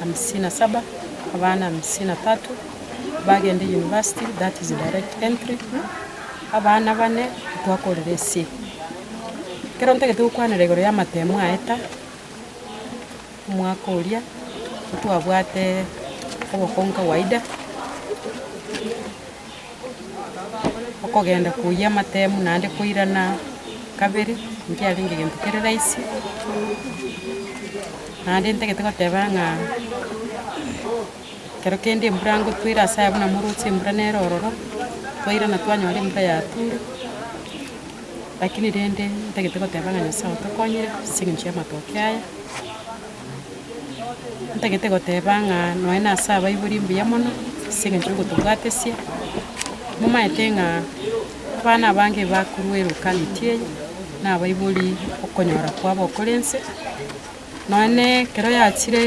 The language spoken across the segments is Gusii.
hamsini na saba, abana hamsini na tatu bagende university, that is direct entry, abana bane twakorire ase ekero ntagete gokwanera igoro ya amatemo aye ta, omwaka oria ntwabwate obokongu kawaida. Okogenda koyia amatemu naende koirana kabere nkiarenge egento kere rahisi, naende ntagete goteba ng'a ekero kende embura ngotwa ere ase ayio buna moroche embura nere ororo, twairana twanyora embura yature, lakini rende ntagete goteba ng'a Nyasaye otokonyire ase eng'encho y'amatoke aya. Ntagete goteba ng'a nonya na ase abaibori mbuya mono, ase eng'encho ngotobwatesia, momaete ng'a abana abange bakorwa erokaneti eye, na abaibori okonyora kwabo okore nse, nonya na ekero yachire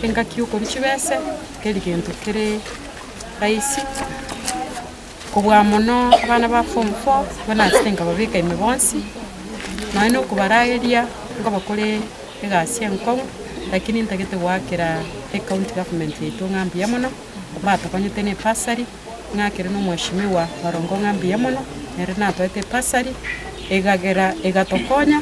engaki yokorwa chibese, teri gento kere raisi. Kobua mono abana ba form four nigo naachete nkababeka ime bonsi, nonya na okobarageria nkobakore egasi enkong'u, lakini ntagete goakera ecounty government yaito ng'a mbuya mono, batokonyete na ebasari, ng'akere na omweshimiwa Orongo ng'a mbuya mono, ere natoete ebasari, egagera egatokonya.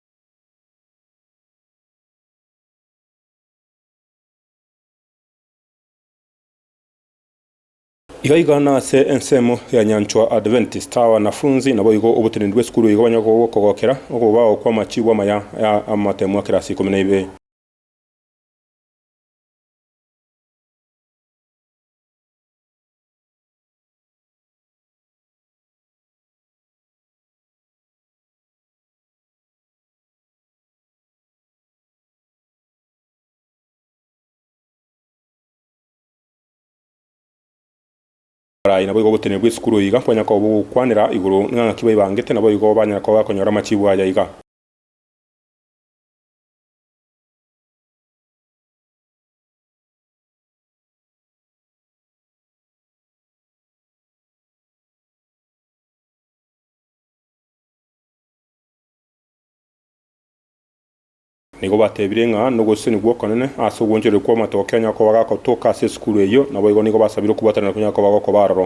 Iga iga nase ensemo ya Nyanchwa Adventist abanafunzi naboigo oboteneni bw'esukuru iga banyare kogokera okobao kw'amachibo amaya ya amatemo a kirasi ikomi na ibere. Baria naboigo ogotenena bw'esukuru iga kwanyare koba ogokwanera igoro ng'a ng'aki baibangete naboigo banyare koba bakonyora amachibu aya iga. Nigo batebire ng'a nogosesenia gw'okonene ase ogwonchoreria kw'amatoke a Nyakoba gakotoka ase esukuru eyio, naboigo nigo basabire okobwatanera kwa Nyakoba gokoba aroro.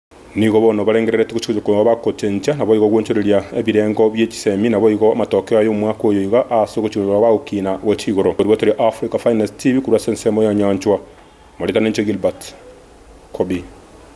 Nigo bono barengereretie gochika gochia koba bagochencha, naboigo ogwonchoreria ebirengo bie chisemi, naboigo amatokeo aya omwaka oyo iga aase ogochika gochia koba bagokina gochia igoro. Korwa tore Africa Finest TV korwa ase ensemo ya Nyanchwa, moretane inche Gilbert Kobi.